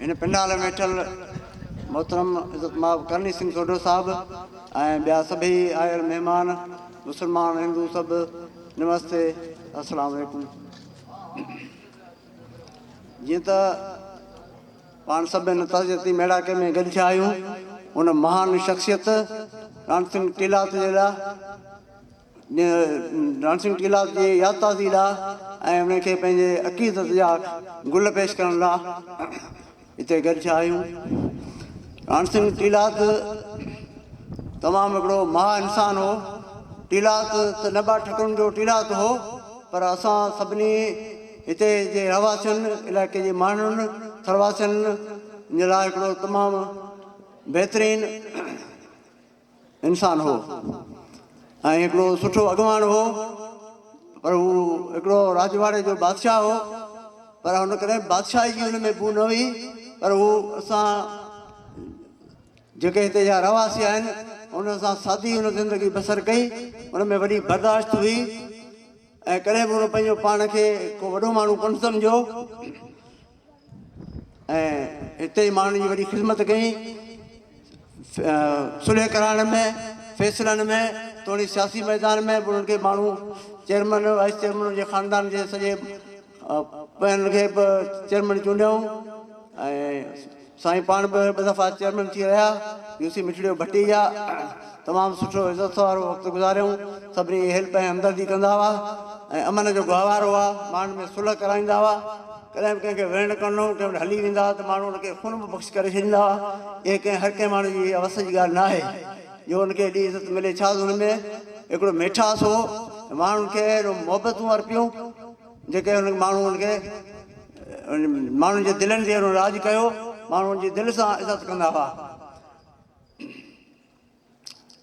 هن پنڊال ۾ ويٺل محترم عزت مآب ڪرڻي سنگهه سوڍو صاحب ۽ ٻيا سڀئي آيل مهمان مسلمان هندو سڀ نمستي السلام عليڪم جيئن ته پاڻ سڀ هن تعزيتي ميڙاڪي ۾ گڏ ٿيا آهيون ان مهان شخصيت رڻ سنگهه ٽيلات جي لاء ڊانسنگ ڪلاس جي ياد تازي لاء ۽ انهن کي پنهنجي عقيدت جا گل پيش ڪرڻ لاء هتي گڏ ٿيا آهيون. ڊانسنگ ڪلاس تمام هڪڙو مها انسان هو. ڪلاس ته نه ٻه ٺڪرن جو ڪلاس هو پر اسان سڀني هتي جي رهواسين علائقي جي ماڻهن ٿرواسين جي لاء هڪڙو تمام بهترين انسان هو ۽ هڪڙو سٺو اڳواڻ هو پر هو هڪڙو راڄواڙي جو بادشاهه هو پر هن ڪڏهن بادشاهي جي هن ۾ بو نه هئي پر هو اسان جيڪي هتي جا رهواسي آهن ان سان سادي هن زندگي بسر ڪئي ان ۾ وڏي برداشت هئي ۽ ڪڏهن به هن پنهنجو پاڻ کي ڪو وڏو ماڻهو ڪونه سمجهيو ۽ هتي ئي ماڻهن جي وڏي خدمت ڪئي. صلح ڪرائڻ ۾ فيصلن ۾ توڻي سياسي ميدان ۾ به انهن کي ماڻهو چيئرمن وائيس چيئرمن جي خاندان جي سڄي پنهن کي به چيئرمن چونڊيائون ۽ سائين پاڻ به ٻه دفعا چيئرمين ٿي رهيا، يو سي مٺڙيو ڀٽيجا تمام سٺو عزت وارو وقت گذاريائون، سڀني جي هيلپ ۽ همدردي ڪندا هئا ۽ امن جو گهوار هئا، ماڻهن ۾ صلح ڪرائيندا هئا، ڪڏهن به ڪنهن کي ويڙهه نه ڪرڻو هو، ڪنهن وٽ هلي ويندا هئا ته ماڻهو ان کي خون به بخش ڪري ڇڏيندا هئا، اهي ڪنهن هر ڪنهن ماڻهو جي اها وس جي ڳالهه نه آهي جو ان کي ايڏي عزت ملي، ڇا هن ۾ اهڙو ميٺاس هو ۽ ماڻهن کي اهڙيون محبتون ارپيون. جيڪي انهن ماڻهن کي ماڻهن جي دلين تي انهن راڄ ڪيو، ماڻهو ان جي دل سان عزت ڪندا هئا.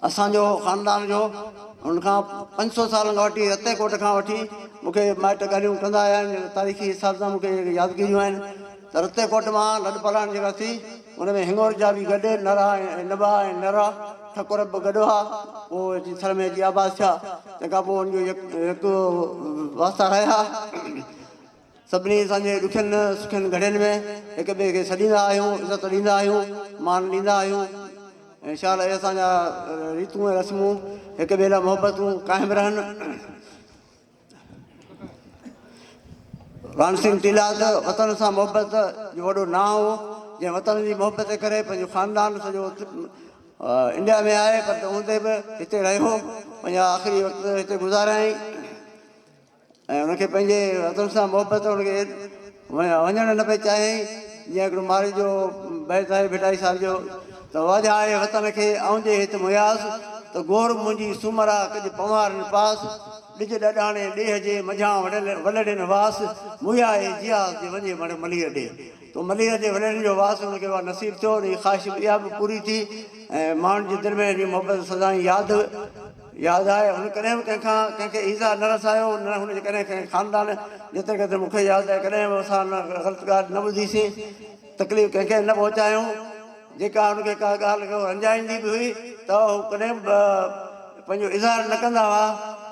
اسان جو خاندان جو ان کان پنج سؤ سالن کان وٺي رتي ڪوٽ کان وٺي مون کي مائٽ ڳالهيون ڪندا آيا آهن، تاريخي اساتذا مون کي يادگيريون آهن. ته رتي ڪوٽ مان لڏ پلاڻ جيڪا ٿي، ان ۾ هڱور جا به گڏ، نرا ۽ نبا ۽ نرا ٺڪر به گڏ هئا. پوء اچي ٿر ۾ اچي آباد ٿيا. تنهن کان پوء ان جو يڪ يڪ واسطا رهيا. سڀني اسان جي ڏکين سکين گهڙين ۾ هڪ ٻئي کي سڏيندا آهيون، عزت ڏيندا آهيون، مان ڏيندا آهيون. ان شاء الله اهي اسان جا ريتون ۽ رسمون هڪ ٻئي لاء محبتون قائم رهن. رامسينگ تيلاڪ وطن سان محبت جو وڏو نانء هو جنهن وطن جي محبت جي ڪري پنهنجو خاندان سڄو انڊيا ۾ آهي پر تنهن هوندي به هتي رهيو پنهنجا آخري وقت هتي گذاريائين ۽ ان کي پنهنجي وطن سان محبت ان کي وڃڻ نه پئي چاهيائين جيئن هڪڙو مارئي جو بيت آهي ڀٽائي صاحب جو ته واجهائي وطن کي آئون جي هت مهياس، ته گور منهنجي سومرا ڪڄ پنوارن پاس، ڏج ڏاڏاڻي ڏيهه جي منجهان وڙهيل ولڙين واس، موهيائي جياس جي وڃي مڙ ملير ڏي. تو ملير ڏي ولڙين جو واس هن کي اها نصيب ٿيو، ان جي خواهش به اها به پوري ٿي ۽ ماڻهن جي دل ۾ جي محبت سدائين ياد ياد آهي، هن ڪڏهن به ڪنهن کان ڪنهن کي ايذاء نه رسايو، نه هن جي ڪڏهن ڪنهن خاندان جيتري قدر مون کي ياد آهي ڪڏهن به اسان نه غلط ڳالهه نه ٻڌيسين. تڪليف ڪنهن کي نه پهچايون، جيڪا هن کي ڪا ڳالهه ڪو رنجائيندي به هئي ته هو ڪڏهن به پنهنجو اظهار نه ڪندا هئا،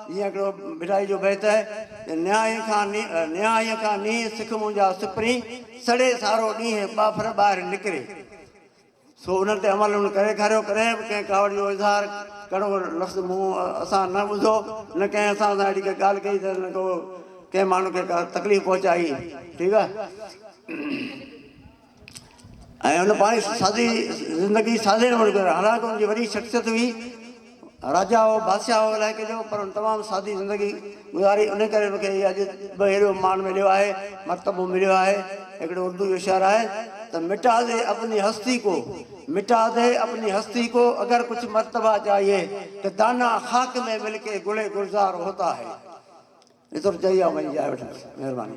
جيئن هڪڙو ڀٽائي جو بيت آهي ته نهايي کان نهايي کان نيهه سک منهنجا سپرين، سڙي سارو ڏينهن ٻاڦر ٻاهر نڪري. سو انهن تي عمل هن ڪري ڏيکاريو، ڪڏهن به ڪنهن ڪاوڙ جو اظهار ڪهڙو لفظ منهن اسان نه ٻڌو، نه ڪنهن اسان سان اهڙي ڪا ڳالهه ڪئي ته نه ڪو ڪنهن ماڻهو کي ڪا تڪليف پهچائي، ٺيڪ آهي، ۽ هن پنهنجي سادي زندگي سادي نموني گذاري، حالانڪ هن جي وڏي شخصيت هئي. راجا هو، بادشاهه هو علائقي جو، پر هن تمام سادي زندگي گذاري، انهي ڪري مون کي هي اڄ به هيڏو مان مليو آهي، مرتبو مليو آهي. هڪڙو اردو جو شعر آهي ته، مٽا دي اپني هستي ڪو، مٽا دي اپني هستي ڪو، اگر ڪچھ مرتبا چاهيي ته دانا خاڪ ۾ مل ڪي گل گلزار هوتا هي. ايترو چئي آئون پنهنجي جاء وٺندس. مهرباني.